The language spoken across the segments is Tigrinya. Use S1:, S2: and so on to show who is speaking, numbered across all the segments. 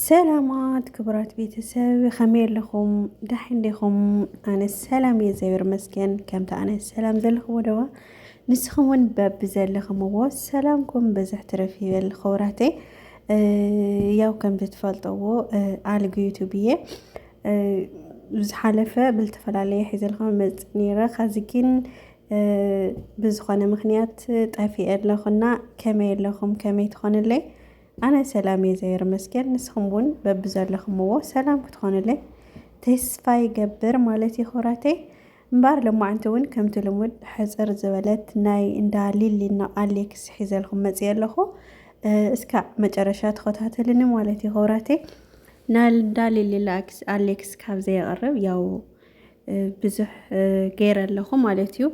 S1: ሰላማት ክቡራት ቤተሰብ ከመይ ኣለኹም ዳሕን ዲኹም ኣነ ሰላም እየ እግዚኣብሔር ይመስገን ከምቲ ኣነ ሰላም ዘለኹዎ ደዋ ንስኹም እውን በቢ ዘለኹምዎ ሰላምኩም ብዝሕ ትረፍ ይበል ክቡራተይ ያው ከም ዝትፈልጠዎ ኣልግ ዩቱብ እየ ዝሓለፈ ብዝተፈላለየ ሒዘልኩም መፅ ነይረ ከዚ ግን ብዝኾነ ምኽንያት ጠፊኤ ኣለኹና ከመይ ኣለኹም ከመይ ትኾንለይ ኣነ ሰላም እየ ዘየር መስገን ንስኹም እውን በብዘለኹምዎ ሰላም ክትኾንለይ ተስፋ ይገብር ማለት ይኹራተይ እምበር ሎማዓንቲ እውን ከምቲ ልሙድ ሕፅር ዝበለት ናይ እንዳ ሊሊና ኣሌክስ ሒዘልኩም መፅየ ኣለኹ እስካ መጨረሻ ተኸታተልኒ ማለት እዩ ሆብራቴ ናይ እንዳ ሊሊና ኣሌክስ ካብ ዘየቕርብ ያው ብዙሕ ገይረ ኣለኹ ማለት እዩ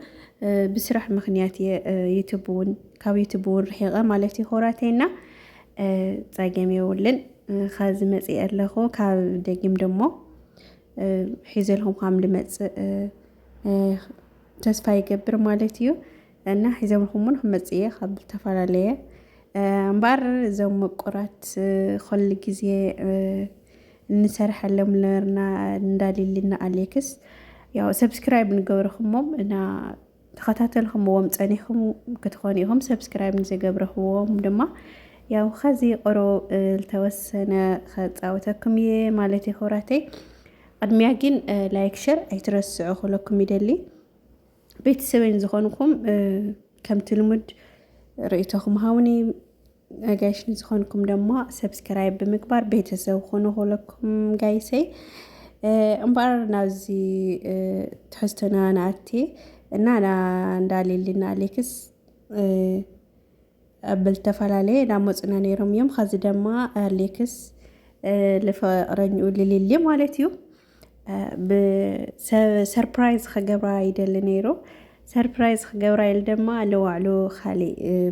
S1: ብስራሕ ምክንያት እየ ዩቱብ እውን ካብ ዩቱብ እውን ርሒቐ ማለት እዩ ሆራተይና ፀገም የብልን ካብዚ መፅእ ኣለኹ ካብ ደጊም ደሞ ሒዘልኩም ከም ልመፅእ ተስፋ ይገብር ማለት እዩ እና ሒዘልኩም እውን ክመፅእ እየ ካብ ዝተፈላለየ እምበኣር እዞም ምቁራት ኩሉ ግዜ ንሰርሐሎም ነበርና እንዳ ሊሊና ኣሌክስ ያው ሰብስክራይብ ንገብረኹሞም እና ተኸታተልኹምዎም ጸኒኹም ክትኾኑ ኢኹም ሰብስክራይብ ንዘገብረኽዎም ድማ ያው ኸዚ ቁሩብ ዝተወሰነ ከፃወተኩም እየ ማለት እዩ ክብራተይ ቅድሚያ ግን ላይክ ሸር ኣይትረስዑ ክለኩም ይደሊ ቤተሰበይን ዝኾንኩም ከምቲ ልሙድ ርእይቶኹም ሃውኒ ኣጋይሽ ንዝኾንኩም ደሞ ሰብስክራይብ ብምግባር ቤተሰብ ኹኑ ኩለኩም ጋይሰይ እምበኣር ናብዚ ትሕዝቶና ንኣቲ እና እንዳ ሊሊና ኣሌክስ ኣብ ዝተፈላለየ እንዳመፁና ነይሮም እዮም ኸዚ ደማ ኣሌክስ ልፍቕረኝኡ ልሊሊ ማለት እዩ ብሰርፕራይዝ ክገብራ ይደሊ ነይሩ ሰርፕራይዝ ክገብራ ኢሉ ድማ ለዋዕሉ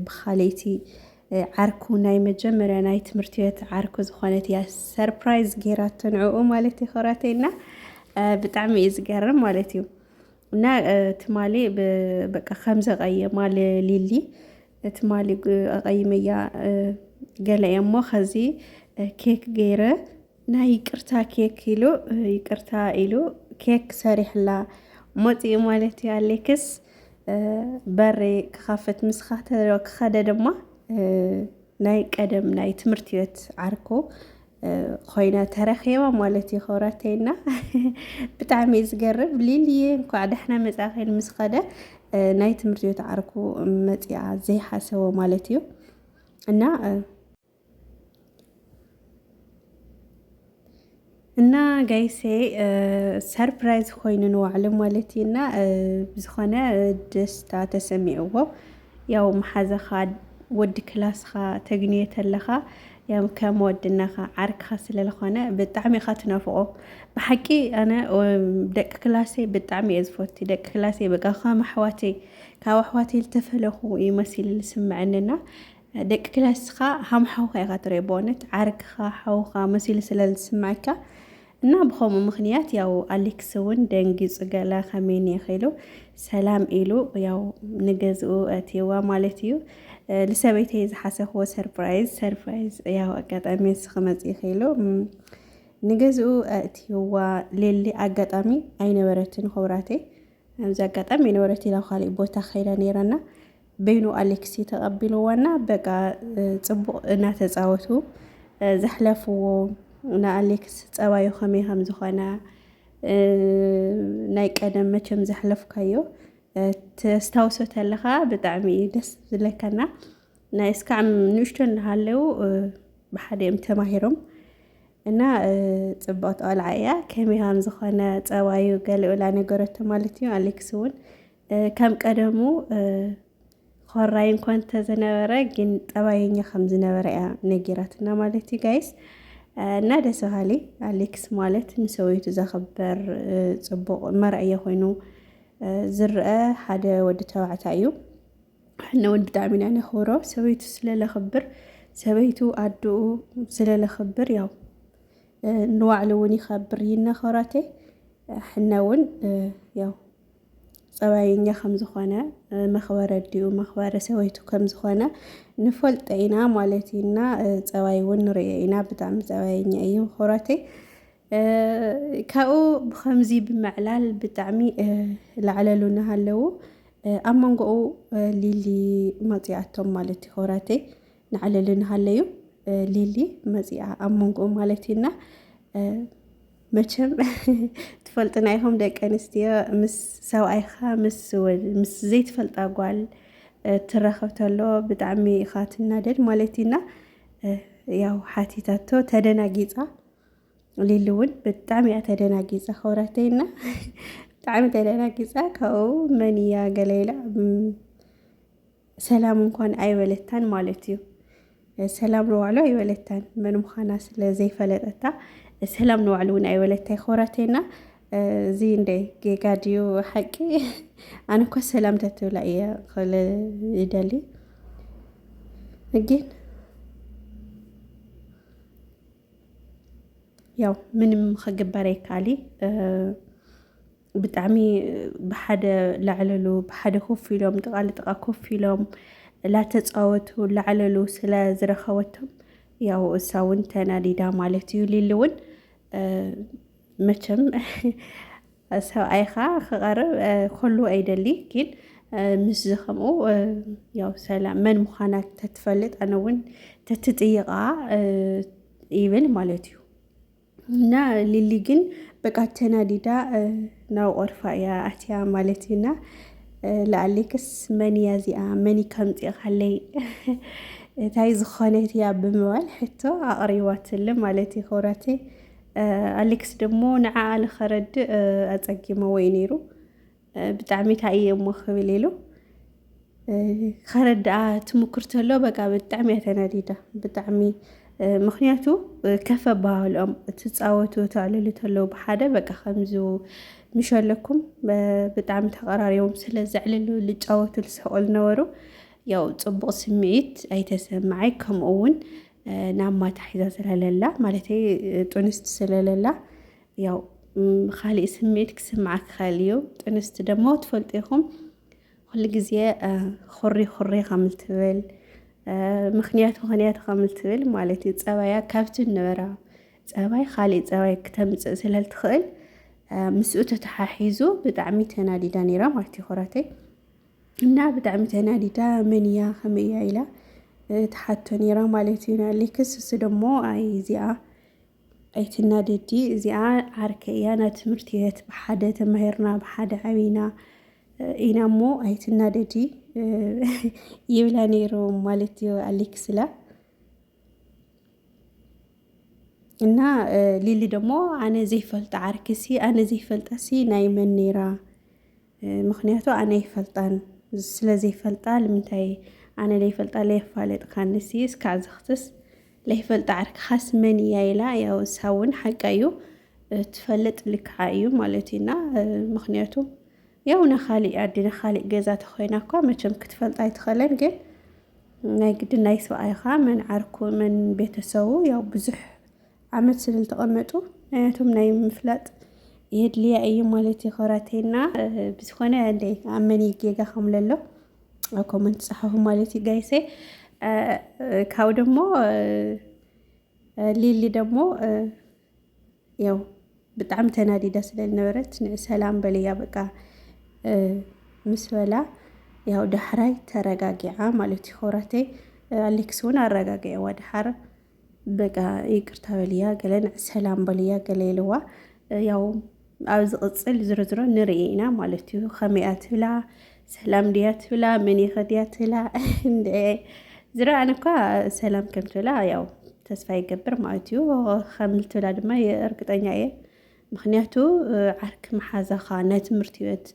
S1: ብካልእቲ ዓርኩ ናይ መጀመርያ ናይ ትምህርቲ ቤት ዓርኩ ዝኾነት እያ ሰርፕራይዝ ጌራቶ ንዕኡ ማለት እዩ ኮራተይና ብጣዕሚ እዩ ዝገርም ማለት እዩ እና ትማሊ በቃ ከምዚ ቀየማ ሊሊ ትማሊ ኣቐይመያ ገለ እየ እሞ ከዚ ኬክ ገይረ ናይ ይቅርታ ኬክ ኢሉ ይቅርታ ኢሉ ኬክ ሰሪሕላ ሞፂኡ ማለት እዩ ኣሌክስ በሪ ክኸፍት ምስኻ ክኸደ ድማ ናይ ቀደም ናይ ትምህርቲ ቤት ዓርኩ ኮይና ተረኺባ ማለት እዩ ክብረተይና ብጣዕሚ እዩ ዝገርም ሊልየ እንኳዕ ደሕና መፃኺን ምስ ኸደ ናይ ትምህርቲ ቤት ዓርኩ መፂኣ ዘይሓሰቦ ማለት እዩ እና እና ጋይሴ ሰርፕራይዝ ኮይኑ ንዋዕሉ ማለት እዩ እና ብዝኾነ ደስታ ተሰሚዕዎ ያው መሓዘኻ ወዲ ክላስኻ ተግንዮ ተለኻ ያው ከም ወድነኻ ዓርክኻ ስለ ዝኾነ ብጣዕሚ ኢኻ ትናፍቖ ብሓቂ ኣነ ደቂ ክላሰይ ብጣዕሚ እየ ዝፈቱ ደቂ ክላሰይ በቃ ከም ኣሕዋተይ ካብ ኣሕዋተይ ዝተፈለኹ እዩ መሲሉ ዝስመዐኒ እና ደቂ ክላስካ ሃም ሓውካ ኢካ ትሪኦ በእውነት ዓርክካ ሓውካ መሲሉ ስለ ዝስምዐካ እና ብከምኡ ምክንያት ያው ኣሌክስ እውን ደንጊፁ ገለ ከመይ ኒኢኺ ኢሉ ሰላም ኢሉ ያው ንገዝኡ ኣእትየዋ ማለት እዩ ንሰበይተይ ዝሓሰብዎ ሰርፕራይዝ ሰርፕራይዝ ያው ኣጋጣሚ ንስኺ መፂኢኺ ኢሉ ንገዝኡ ኣእትየዋ ሌሊ ኣጋጣሚ ኣይነበረትን ክብራተይ ኣብዚ ኣጋጣሚ የነበረት ኢላ ካሊእ ቦታ ከይዳ ነይራና በይኑ ኣሌክሲ ተቐቢልዎና በቃ ፅቡቕ እናተፃወቱ ዘሕለፍዎ ንኣሌክስ ፀባዩ ከመይ ከም ዝኾነ ናይ ቀደም መቸም ዘሕለፍካዮ ተስታውሶ ተለኻ ብጣዕሚ እዩ ደስ ዝለካና ናይ እስካዕ ንእሽቶ እናሃለው ብሓደ እዮም ተማሂሮም እና ፅብቕቲ ቆልዓ እያ ከመይ ከም ዝኾነ ፀባዩ ገለኡላ ነገረቶ ማለት እዩ ኣሌክስ እውን ከም ቀደሙ ኾራይ እንኳን ተዝነበረ ግን ጠባየኛ ከም ዝነበረ እያ ነጊራትና ማለት እዩ ጋይስ እና ደስ በሃሊ ኣሌክስ ማለት ንሰበይቱ ዘኽበር ፅቡቕ መርኣያ ኮይኑ ዝርአ ሓደ ወዲ ተባዕታይ እዩ ንውን ብጣዕሚ ኢና ነኽብሮ ሰበይቱ ስለለኽብር ሰበይቱ ኣድኡ ስለለኽብር ያው ንባዕሉ እውን ይኸብር ይነኸራቴ ሕነ እውን ያው ፀባየኛ ከም ዝኾነ መኽበሪ ኣዲኡ መኽበሪ ሰበይቱ ከም ዝኾነ ንፈልጦ ኢና ማለት እዩ እና ፀባይ እውን ንሪኦ ኢና ብጣዕሚ ፀባየኛ እዩ ምኽብረተይ ካብኡ ብከምዚ ብምዕላል ብጣዕሚ ላዕለሉ እናሃለዉ ኣብ መንጎኡ ሊሊ መፂኣቶም ማለት እዩ ክብረተይ ናዕለሉ እናሃለዩ ሊሊ መፂኣ ኣብ መንጎኡ ማለት እዩና መቸም ትፈልጥና ኢኹም ደቂ ኣንስትዮ ምስ ሰብኣይኻ ምስ ዘይትፈልጣ ጓል ትራኸብ ተሎ ብጣዕሚ ኢኻ ትናደድ ማለት እዩና ያው ሓቲታቶ ተደናጊፃ ሊሊ እውን ብጣዕሚ እያ ተደናጊፃ ከውራተይና ብጣዕሚ ተደናጊፃ ካብኡ መን እያ ገለ ኢላ ሰላም እንኳን ኣይበለታን ማለት እዩ። ሰላም ንባዕሉ ኣይበለታን መን ምዃና ስለ ዘይፈለጠታ ሰላም ንባዕሉ እውን ኣይበለታ ይኾራቴና እዚ እንደይ ጌጋ ድዩ ሓቂ ኣነ እኳ ሰላም ተትብላ እየ ክል ይደሊ ግን ያው ምንም ክግበር ኣይካሊ ብጣዕሚ ብሓደ ላዕለሉ ብሓደ ኮፍ ኢሎም ጥቃ ንጥቃ ኮፍ ኢሎም ላተፃወቱ ላዕለሉ ስለ ዝረኸበቶም ያው እሳ እውን ተናዲዳ ማለት እዩ። ሊሊ እውን መቸም ሰብኣይኻ ክቐርብ ከሉ ኣይደሊ ግን ምስ ዝኸምኡ ያው ሰላም መን ምዃና ተትፈልጥ ኣነ እውን ተትጥይቓ ይብል ማለት እዩ። እና ሊሊ ግን በቃ ተናዲዳ ናብ ቆርፋ እያ ኣትያ ማለት እዩና ለኣሌክስ መን እያ እዚኣ መን ከምፂእኻለይ እንታይ ዝኾነት እያ ብምባል ሕቶ ኣቕሪባትለ ማለት እዩ ክብራተይ ኣሌክስ ደግሞ ንዓኣ ንኸረድእ ኣፀጊመዎ እዩ ነይሩ ብጣዕሚ ታይ እየ እሞ ክብል ኢሉ ከረድኣ ትምክር ተሎ በቃ ብጣዕሚ እያ ተናዲዳ ብጣዕሚ ምክንያቱ ከፍ ኣባሃልኦም ትፃወቱ ተዕልሉ ተለው ብሓደ በቃ ከምዚ ምሸለኩም ብጣዕሚ ተቀራሪቦም ስለ ዘዕልሉ ልጫወቱ ልስሕቁ ነበሩ ያው ፅቡቅ ስምዒት ኣይተሰማዓይ ከምኡ እውን ናብ ማታ ሒዛ ስለለላ ማለት ጡንስቲ ስለለላ ያው ካሊእ ስምዒት ክስምዓክ ክኸእል እዩ ጥንስቲ ደሞ ትፈልጡ ኢኹም ኩሉ ግዜ ኹሪ ኹሪ ከምል ትብል ምክንያት ምክንያት ከምል ትብል ማለት እዩ ፀባያ ካብቲ ነበራ ፀባይ ካሊእ ፀባይ ክተምፅእ ስለትኽእል ምስኡ ተተሓሒዙ ብጣዕሚ ተናዲዳ ነይራ ማለት እዩ ኹራተይ እና ብጣዕሚ ተናዲዳ መን እያ ከመይ እያ ኢላ ትሓቶ ነይራ ማለት እዩ ንኣሌክስ እሱ ደሞ ኣይ እዚኣ ኣይትናደዲ እዚኣ ዓርከይ እያ ናይ ትምህርቲ ቤት ብሓደ ተማሂርና ብሓደ ዓብና ኢና እሞ ኣይትናደዲ ይብላ ነይሩ ማለት እዩ ኣሌክስላ እና ሊሊ ደግሞ ኣነ ዘይፈልጣ ዓርኪሲ ኣነ ዘይፈልጣሲ ናይ መን ነይራ ምኽንያቱ ኣነ ኣይፈልጣን ስለዘይፈልጣ ንምንታይ ኣነ ለይፈልጣ ለየፋለጥካኒ ሲ እስካዕ ዘኽትስ ለይፈልጣ ዓርክኻስ መን እያ ኢላ ያው እሳ እውን ሓቃ እዩ ትፈልጥ ልክዓ እዩ ማለት እዩና ምኽንያቱ ያው ንኻሊእ ዓዲ ንኻሊእ ገዛ ተኮይና እኳ መቸም ክትፈልጣ ኣይትኸለን ግን ናይ ግዲ ናይ ሰብኣይኻ መን ዓርኩ መን ቤተሰቡ ያው ብዙሕ ዓመት ስለዝተቐመጡ ናያቶም ናይ ምፍላጥ የድልያ እዩ ማለት እዩ ኮራቴና ብዝኾነ እንደይ ኣብ መን ጌጋ ከምለ ኣሎ ኣብ ኮመንት ጸሓፉ ማለት እዩ ጋይሰ ካብ ደግሞ ሊሊ ደግሞ ያው ብጣዕሚ ተናዲዳ ስለዝነበረት ሰላም በልያ በቃ ምስ በላ ያው ዳሕራይ ተረጋጊዓ ማለት እዩ ኮራቴ ኣሌክስ እውን ኣረጋጊዕዋ ዳሓር በቃ ይቅርታ በልያ ገለ ንዕ ሰላም በልያ ገለ ኢልዋ ያው ኣብ ዝቕፅል ዝርዝሮ ንርኢ ኢና ማለት እዩ ከመይ ትብላ ሰላም ድያ ትብላ መን ይኸድያ ትብላ እንደ ዝረኣን እኳ ሰላም ከም ትብላ ያው ተስፋ ይገብር ማለት እዩ ከም ትብላ ድማ እርግጠኛ እየ ምክንያቱ ዓርኪ መሓዛኻ ናይ ትምህርቲ ቤት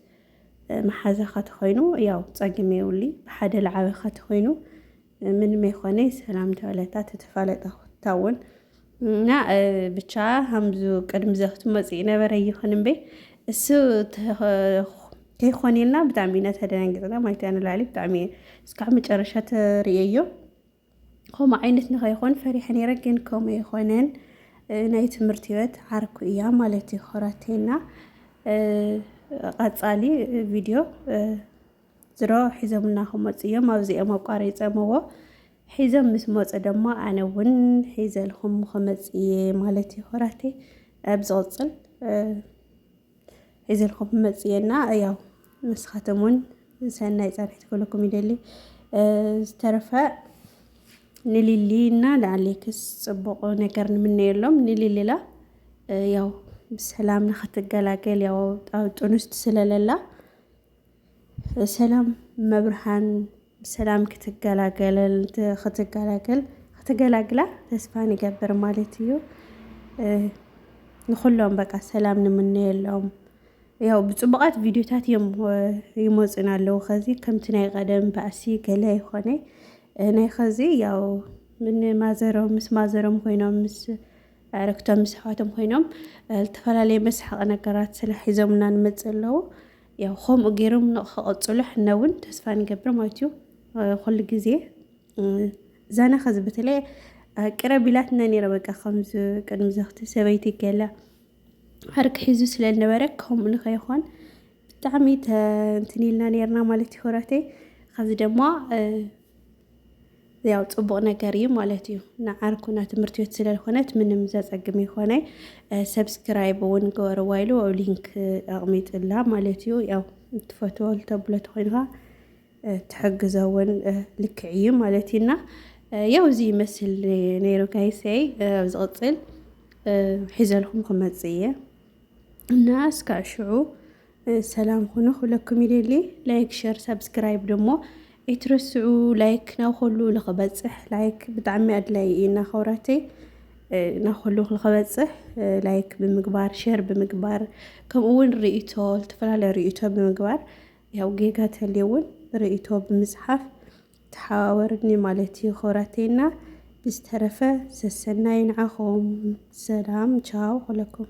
S1: መሓዛኻ ተኮይኑ ያው ፀግም የውሊ ብሓደ ልዓበኻ ተኮይኑ ምንመይ ኾነይ ሰላም ተበለታ ተተፋለጣ ኩታውን እና ብቻ ሃምዙ ቅድሚ ዘኽቱ መፅኢ ነበረ ይኹን እምበይ እሱ ከይኾኔልና ብጣዕሚ ኢና ተደናጊፅና ማለት እያ ንላዕሊ ብጣዕሚ እስካዕ መጨረሻ ተርእየዮ ከምኡ ዓይነት ንኸይኾን ፈሪሐ ነይረ ግን ከምኡ ይኾነን ናይ ትምህርቲ ህይወት ዓርኩ እያ ማለት እዩ ኾራቴና ቀፃሊ ቪድዮ ዝሮ ሒዞምና ክመፁ እዮም ኣብዚኦም ኣቋሪፀምዎ ሒዞም ምስ መፁ ደሞ ኣነ እውን ሒዘልኩም ክመፅ እየ ማለት እዩ ሆራቴ ኣብ ዝቕፅል ሒዘልኩም ክመፅ እየና ያው ንስኻትም እውን ሰናይ ፃንሒት ክህልኩም ይደሊ ዝተረፈ ንሊሊ እና ንኣሌክስ ፅቡቕ ነገር ንምነየሎም ንሊሊላ ያው ብሰላም ንክትገላገል ያው ጣውጡንስት ስለለላ ሰላም መብርሃን ብሰላም ክትገላገለል ክትገላገል ክትገላግላ ተስፋ ንገብር ማለት እዩ። ንኹሎም በቃ ሰላም ንምነየሎም ያው ብፅቡቓት ቪድዮታት እዮም ይመፁና ኣለዉ ኸዚ ከምቲ ናይ ቀደም ባእሲ ገለ ይኾነ ናይ ኸዚ ያው ምን ማዘሮም ምስ ማዘሮም ኮይኖም ምስ ኣዕርኽቶም ምስ ኣሕዋቶም ኮይኖም ዝተፈላለየ መስሓቒ ነገራት ስለ ሒዞምልና ንመፅእ ኣለዉ። ያው ከምኡ ገይሮም ንክቐፅሉ ሕና እውን ተስፋ ንገብር ማለት እዩ ኩሉ ግዜ ዛና ከዚ በተለይ ቅረብ ኢላትና ነይረ በቃ ከምዚ ቅድሚ ዘኽቲ ሰበይቲ ገለ ዓርቂ ሒዙ ስለ ዝነበረ ከምኡ ንኸይኾን ብጣዕሚ እንትን ኢልና ነይርና ማለት ይኮራተይ ከዚ ድማ ያው ጽቡቅ ነገር እዩ ማለት እዩ ንዓርኩና ትምህርቲ ቤት ስለልኮነት ምንም ዘጸግም ይኮነ ሰብስክራይብ እውን ገበርዋ ኢሉ ኣብ ሊንክ ኣቕሚጥላ ማለት እዩ ያው ትፈትዎ ተብሎ ተኮይንካ ትሕግዞ እውን ልክዕ እዩ ማለት እዩና ያው እዚ ይመስል ነይሩ ጋይሰይ ኣብ ዝቕጽል ሒዘልኩም ክመጽእ እየ እና እስካዕ ሽዑ ሰላም ኩኑ ኩለኩም ይደሊ ላይክ ሸር ሳብስክራይብ ደሞ ኣይትረስዑ ላይክ ናብ ኩሉ ልክበፅሕ ላይክ ብጣዕሚ ኣድላይ እዩ እና ከውራተይ ናብ ኩሉ ክበፅሕ ላይክ ብምግባር ሼር ብምግባር ከምኡ እውን ርእቶ ዝተፈላለየ ርእቶ ብምግባር ያው ጌጋ ተልየ እውን ርእቶ ብምፅሓፍ ተሓዋወርኒ ማለት እዩ ክብራቴና ብዝተረፈ ሰሰናይ ንዓኹም ሰላም ቻው ኩለኩም